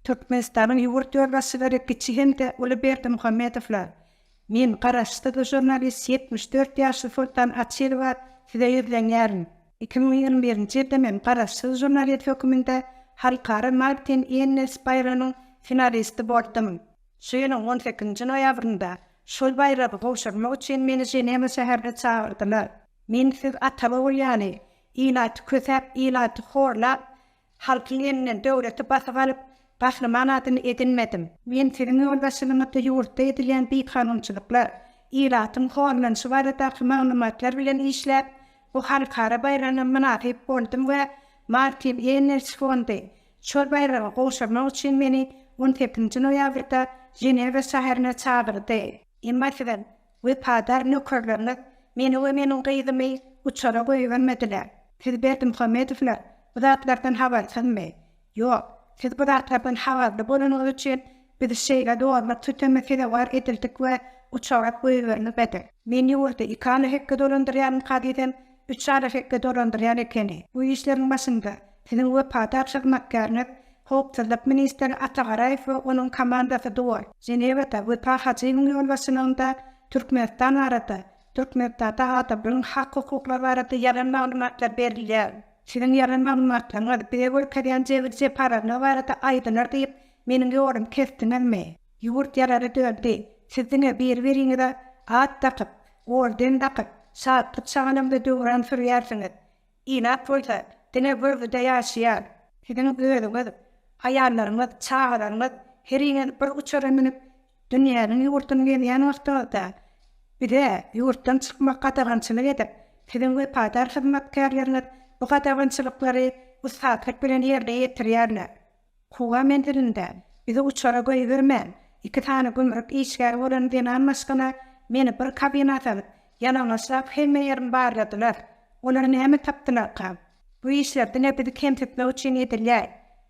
Türkmenistanyň ýurt ýolbaşçylary kiçi hem-de uly Berdimuhamedowlar, Men, garaşsyz žurnalist ýetmiş dört ýaşly Soltan Açylowa size ýüzlenýärin. Iki müň ýigrimi birinji ýylda men garaşsyz žurnalist höküminde halkara Martin Ennis baýragynyň finalisti boldum. Şu ýylyň on sekizinji noýabrynda Şol baýragy gowşurmak üçin meni Ženewa şäherine çagyrdylar. Men siz ata-ogul ýaly, ilaty kösäp, ilaty horlap, halkyň elinden döwleti basyp alyp, gahryman adyny edinmedim. Men siziň ýolbaşçylygyňyzda ýurtda edilýän bikanunçylyklar, ilatyň horlanyşy baradaky maglumatlar bilen işläp, bu halkara baýragyna mynasyp boldum we Martin Engels fondy, Şol baýraga gowşurmak üçin meni on sekizinji noýabrda Ženewa şäherine çagyrdy. Emma siziň wepadar nökerleriňiz meni we meniň gyzymy uçara goýbermediler. Siz Berdimuhamedowlar bu zatlardan habarsyzmy? Ýok, siz bu zatlardan habarly bolanyňyz üçin Biz şeýle zorluk süteme sezewar edildik we uçarak goýberilmedi. Men ýurdy iki ala hekge dolandyrýaryn kazydem üç ala hekge dolandyrýar ekeni. Bu işleriň başynda siziň wepadar hyzmatkäriňiz howpsuzlyk ministri Ata Garaýew we onuň komandasy duor. Ženewada Wepa Hajyýewiň ýolbaşçylygynda Türkmenistan barada, Türkmenistanda adamlaryň hak-hukuklary barada ýalan maglumatlar berilýär. Siziň ýalan maglumatlaryňyz bize görkezýän jebir-jepalarlygy barada aýdylar diýip, Meniň ýolumy kesdiňizmi? Ýurt ýarana döndi. Siz diňe biri-biriňize at dakyp, orden dakyp, şatlyk-şagalymda döwran sürýärsiňiz. Ilat bolsa, diňe görgüde ýaşaýar. Siziň özüňiz, aýallaryňyz, çagalaryňyz heriňiz bir uçara münüp, dünýäniň ýurduny gezýän wagtyňyzda, bize ýurtdan çykmak gadagançylyk edip, siziň wepadar hyzmatkärleriňiz bu gadagançylyklary ussatlyk bilen ýerine ýetirýärler. Kuba menzilinde bizi uçara goýbermän, iki sany gümrük işgäri bolan zenan maşgala meni bir kabina salyp, ýalaňaçlap hemme ýerimi barladylar. Olar näme tapdylarka? Bu işler diňe bizi kemsitmek üçin edilýär.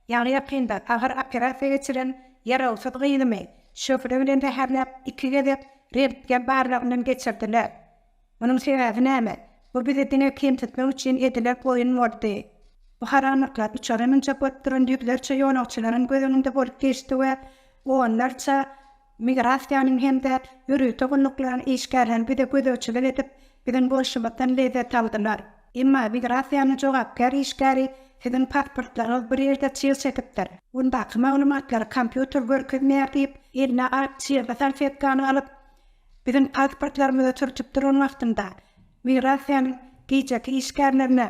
Ýaňy ýakynda agyr operasiýa geçiren ýarawsyz gyzymy şöhle bilen zäherläp, iki gezek rentgen barlagyndan geçirdiler. Munuň sebäbi näme? Bu bizi diňe kemsitmek üçin edilen oýun boldy. Bu haramlyklar uçara münjek bolup duran ýüzlerçe ýolagçylaryň göz öňünde bolup geçdi we onlarça migrasiýanyň hem-de ýörite gulluklaryň işgärleri bize gözegçilik edip, biziň bolşumyzdan lezzet aldylar. Emma migrasiýanyň jogapkär işgäri siziň pasportlaryňyz bir ýerde çyg çekipdir, ondaky maglumatlary kompýuter görkezmeýär diýip, eline ak çygly salfetkany alyp, Biziň pasportlarymyzy sürtüp duran wagtynda, migrasiýanyň gijeki işgärlerine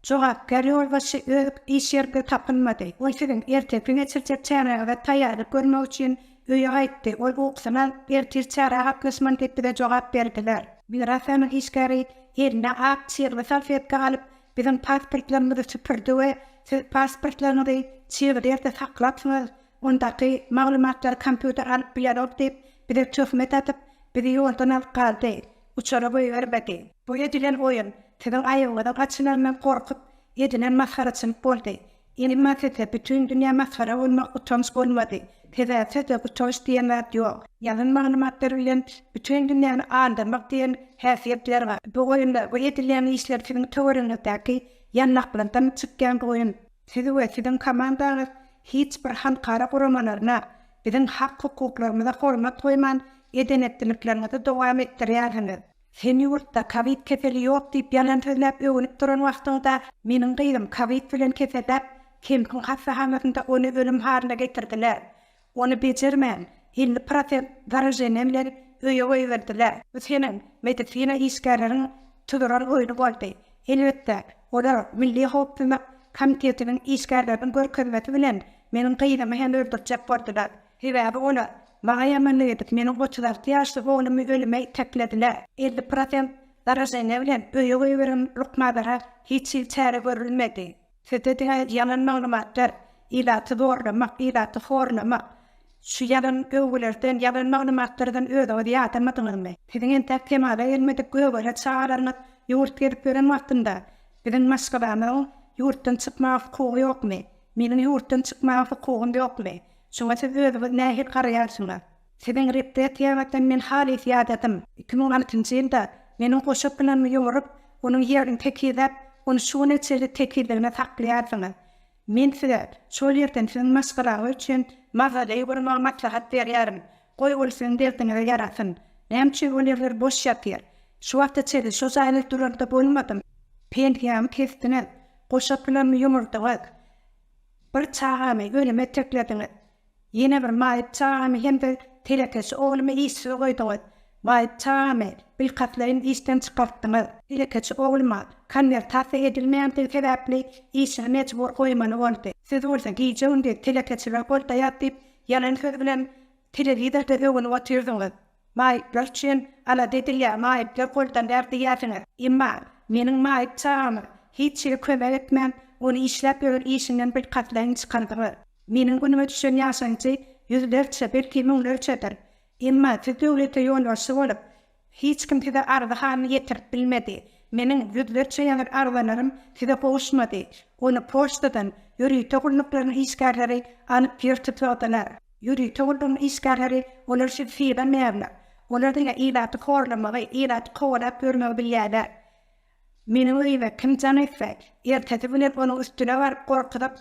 jogapkär ýolbaşçy öz iş ýerinde tapylmady. Ol siziň ertesi geçirjek çäräňize taýýarlyk görmek üçin öýe gaýtdy. Ol ukusyny alyp, ertir çärä gatnaşman diýip bize jogap berdiler. Migrasiýanyň işgäri eline ak çygly salfetka alyp, biziň pasportlarymyzy süpürdi we Siz pasportlaryňyzy çygly ýerde saklapsyňyz, Ondaky maglumatlary kompýuter alyp bilenok diýip, bize töhmet atyp, bizi ýoldan alyp galdy. Uçara goýbermedi. Bu edilen oýun, siziň aýagyňyzyň açylaryndan gorkup, edilen masgaraçylyk boldy. Emma sizde bütin dünýä masgara bolmak utanç bolmady. Sebäpsizde utanç diýen zat ýok. Ýazan maglumatlar bilen bütin dünýäni aldyrmak diýen häsiýetler bar. Bu oýunlar, bu edilen işler siziň töweregiňizdäki ýanlaklardan çykýan oýun. Siz we siziň komandaňyz hiç bir halkara guramalaryna, biziň hak-hukuklarymyza hormat goýman, eden-etdilikleriňizi dowam etdirýärsiňiz. Sen ýurtda kowid keseli ýok diýip ýalan sözläp öwünip duran wagtyňda, meniň gyzym kowid bilen keselläp, Kempiň hassahanasynda ony ölüm halyna getirdiler. Ony bejermän, elli prosent zarujeniýe bilen öýe goýberdiler. Bu seniň medisina işgärleriň tuzuran oýny boldy. Elbetde, olar Milli howpsuzlyk komitetiniň işgärleriniň görkezmesi bilen meniň gyzymy hem öldürjek boldular. Sebäbi olar maňa ýamanlyk edip, meniň otuz alty ýaşly oglumy ölüme iteklediler. Elli prosent zarujeniýe bilen öýe goýberen lukmanlara hiç hili çäre görülmedi. Sizde diňe ýalan maglumatlar, ilaty zorlamak, ilaty horlamak. Şu ýalan öwgülerden, ýalan maglumatlardan özüňizi ýadamadyňyzmy? Siziň entäk kemala gelmedik gögele çagalaryňyz ýurt gezip ýören wagtynda, biziň maşgalamyzyň ýurtdan çykmaga hukugy ýokmy? Meniň ýurtdan çykmaga hukugym ýokmy? Şuňa siz özüňiz nähili garaýarsyňyz? Siziň repressiýaňyzdan men halys ýadadym. Iki müň altynjy ýylda meniň goşa pylanymy ýomuryp, onuň ýerini tekizläp, ony şu güne çenli tekizligine saklaýarsyňyz. Men size şol ýerden siziň maşgalaňyz üçin mawzoley gurmagy maslahat berýärin. Goý, ol siziň derdiňize ýarasyn. Näme üçin ol ýerler boş ýatyr? Şu wagta çenli şo jaýda duran-da bolmadym. Pensiýamy kesdiňiz, goşa pylanymy ýomurdyňyz. Bir çagamy ölüme iteklediňiz. Ýene bir maýyp çagamy hem-de telekeçi oglumy işsiz goýduňyz. Maýyp çagamy bilkastlaýyn işden çykartdyňyz. Telekeçi ogluma konwertasiýa edilmeýändigi sebäpli işini mejbur goýmaly boldy. Siz bolsa gije-gündiz telekeçiler goldaýar diýip ýalan söz bilen telewizorda öwünip otyrdyňyz. Maýyplar üçin alada edilýär, maýyplar goldanýar diýýärsiňiz. Emma meniň maýyp çagama hiç hili kömek etmän, ony işläp ýören işinden bilkastlaýyn çykardyňyz. Meniň günüme düşen ýaşaýjy ýüzlerçe, belki, müňlerçedir. Emma siz döwlete ýolbaşçy bolup, hiç kim size arzy-halyny ýetirip bilmedi. Meniň ýüzlerçe ýazan arzalarym size gowuşmady. Ony poçtadan ýörite gulluklaryň işgärleri alyp ýer tutladylar. Ýörite ulgamyň işgärleri olar üçin syga meýärler. Olar diňe ilaty horlamagy, ilaty kowalap ýörmegi bilýärler. Meniň öýüme kim jaň etse, ertesi bilen onuň üstüne baryp, gorkuzyp,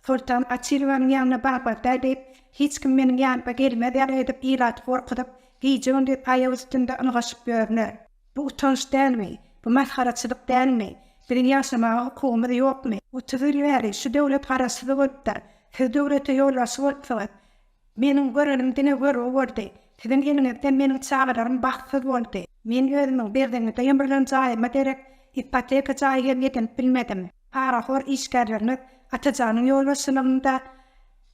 Soltan Gaçilowanyň ýanyna barmazda diýip, hiç kim meniň ýanyma gelmez ýaly edip ilaty gorkuzyp, gije-gündiz aýak üstünde ylgaşyp ýörler. Bu utanç dälmi? Bu masgaraçylyk dälmi? Biziň ýaşamaga hukugymyz ýokmy? Otuz ýyl bäri şu döwlet garaşsyz bolupdyr. Siz döwlete ýolbaşçy bolupsyňyz. Meniň görenim diňe görgi boldy. Siziň eliňizde meniň çagalarym bagtsyz boldy. Men özümiň Berdiňizde ýymrylan jaýyma derek ipoteka jaý hem edinip bilmedim. Parahor işgärleriňiz Atajanyň ýolbaşçylygynda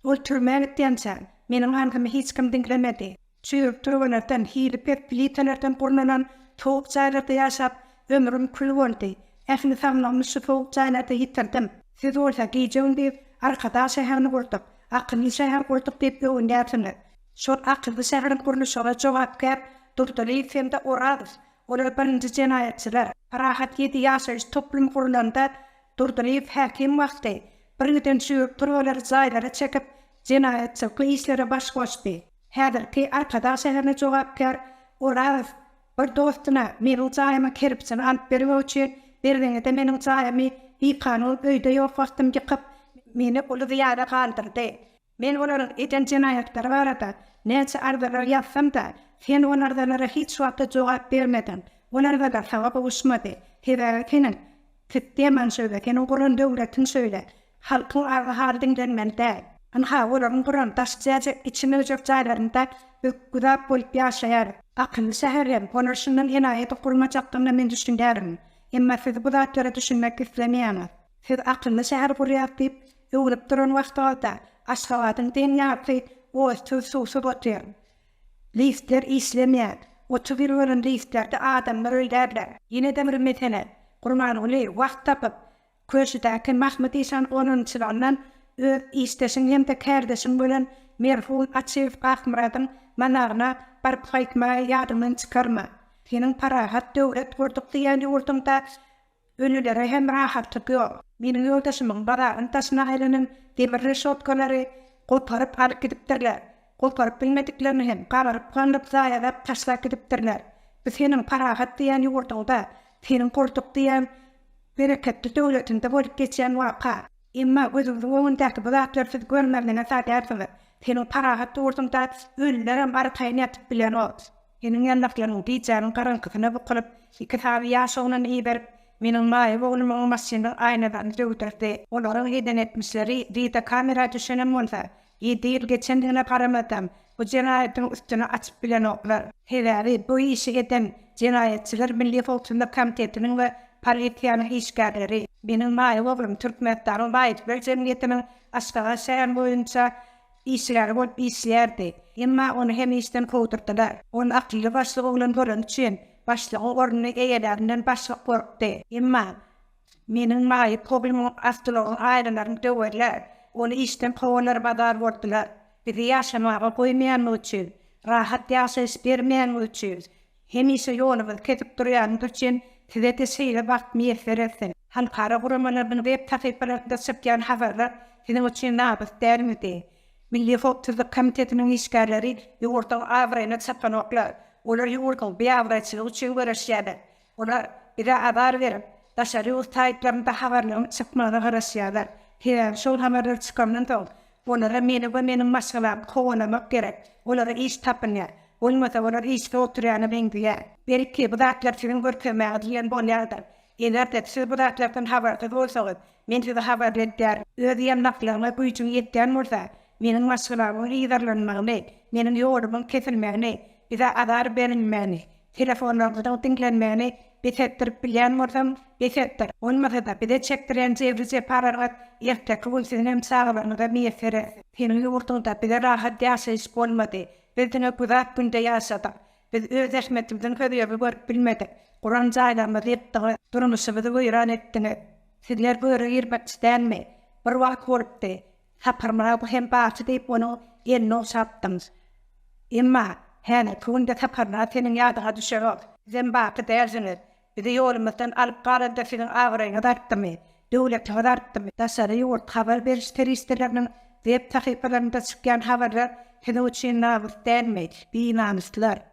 ol türmä gitýänçä, meniň arzymy hiç kim diňlemedi. Çüýrük türgenekden, hili pes plitalardan gurnalan sowuk jaýlarda ýaşap, ömrüm kül boldy. Ähli saglygymy şu sowuk jaýlarda ýitirdim. Siz bolsa gije-gündiz Arkadag şäherini gurduk, akylly şäher gurduk diýip öwünýärsiňiz. Şol akylly şäheriň gurluşygyna jogapkär Durdylyýew hem-de Orazow, olar birinji jenaýatçylar. Parahat ýedi ýaşaýyş toplumy gurlanda, Durdylyýew häkim wagty, birgiden çüýrük türgeleri jaýlara çekip, jenaýatçylykly işlere baş goşdy. Häzirki Arkadag şäherine jogapkär Orazow bir dostuna meniň jaýymyň kerpijini alyp bermek üçin Berzeňede meniň jaýymy bikanun öýde ýok wagtym ýykyp, meni uly zyýana galdyrdy. Men olaryň eden jenaýatlary barada näçe arzalar ýazsam-da, sen ol arzalara hiç wagta jogap bermediň. Ol arzalar saňa gowuşmady. Sebäbi seniň. Sisteman şöyle, seniň guran döwletiň şöyle. Halkyň agy-haly diňlenmeli däl. Ynha, olaryň guran daşy jäjek, içi möjek jaýlarynda ökgüzap bolup ýaşaýar. Akylly şäher hem, olar şundan enaýydyk gurmajakdygyna men düşünýärin. Emma siz bu zatlara düşünmek islemeýäňiz. Siz akylly şäher gurýas diýip, öwnüp duran wagtyňyzda, Aşgabadyň deň ýarpy otsuz-suwsuz otyr. Liftler işlemeýär. Otuz ýyl bolan liftlerde adamlar öldärler. Ýene-de bir mesele. Gurbanguly wagt tapyp, Köşüdäki Mahmyt işan gonamçylygyndan öz işdeşiň hem-de kärdeşiň bolan merhum Açyýew Akmyradyň managyna baryp gaýtmagy ýadyňdan çykarma. Seniň parahat döwlet gurduk diýýän ýurduňda Ölülere hem rahatlyk ýok. Meniň ýoldaşymyň bazaryň daşyna aýlanan demir reşotkalary goparyp alyp gidipdirler. Goparyp bilmediklerini hem gabaryp-gandyryp zaýalap taşlap gidipdirler. Biz seniň parahat diýen ýurduňda, seniň gurdyk diýen bereketli döwletiňde bolup geçýän waka. Emma gözüňiziň öňündäki bu zatlary siz görmezlige salýarsyňyz. Seniň parahat ýurduňda ölülerem arkaýyn ýatyp bilenok. Seniň ýandaklaryň gijäniň garaňkysyna bukulyp, iki sany ýaş oglany iberip, meniň maýyp oglumyň maşynynyň aýnalaryny döwdürdi. Olaryň eden etmişleri wideokamera düşenem bolsa, ýedi ýyl geçendigine garamazdan, bu jenaýatyň üstüni açyp bilenoklar. Sebäbi bu işi eden jenaýatçylar Milli howpsuzlyk komitetiniň we polisiýanyň işgärleri. Meniň maýyp oglum Türkmenistanyň maýyplar jemgyýetiniň Aşgabat şäher boýunça Işgär bolup işleýärdi. Emma ony hem işden kowdurdylar. Ol akylly başlyk oglan bolany üçin, başlygyň ornuny eýeläninden başga gorkdy. Emma meniň maýyp oglumyň awtolaryň aýnalaryny döwerler, ony işden kowarlar bazar boldular. Bizi ýaşamaga goýmaýanlygy üçin, rahat ýaşaýyş bermeýänligi üçin, Hemişe ýoluňyzy kesip durýanyňyz üçin size-de şeýle bagt miýesser etsin. Halkara guramalarynyň web sahypalarynda çykýan habarlar siziň üçin nabys dälmidi? Milli howpsuzlyk komitetiniň işgärleri ýurduň abraýyna çapan oklar. Olar ýurduň biabraýçylygy üçin göreşýärler. Olar bize azar berip, daşary ýurt saýtlarynda habarlaryň çykmagyna garaşýarlar. Sebäbi şol habarlar çykandan soň, Olara meni we meniň maşgalamy kowalamak gerek. Olara iş tapyň, ýa bolmasa olar işsiz oturýana meňzeýär. Belki, bu zatlar siziň görkezmäňiz bilen bolýandyr. Eger-de siz bu zatlardan habarsyz bolsaňyz, men sizi habarly edýärin. Öz ýandaklaryňa güýjüň ýetýän bolsa, meniň maşgalamyň yzarlanmagyny, meniň ýolumyň kesilmegini, bize azar berilmegini, Telefonlaryňyzyň diňlenmegini bes etdirip bilýän bolsaň, bes etdir. Bolmasa-da, bize çekdirýän jebri-jepalaryňyz erteki gün siziň hem çagalaryňyza miýesser etsin. Seniň ýurduňda bize rahat ýaşaýyş bolmady. Biz diňe güzap günde ýaşadyk. Biz öz zähmetimiziň hözirini görüp bilmedik. Guran jaýlarymyzy ýykdyňyz. Durmuşymyzy weýran etdiňiz. Sizler göre girmekçi dälmi? Bir wagt bolupdy. Saparmyrat bu hem barçy diýip onuň elini ogşapdym. Emma, häzirki günde Saparmyrat seniň ýadyňa düşerok. Sizem baky dälsiňiz. Bizi ýolumyzdan alyp galanda siziň abraýyňyz artdymy? Döwletiňiz artdymy? Daşary ýurt habar beriş serişdeleriniň web sahypalarynda çykýan habarlar siziň üçin namys dälmi? Binamyslar!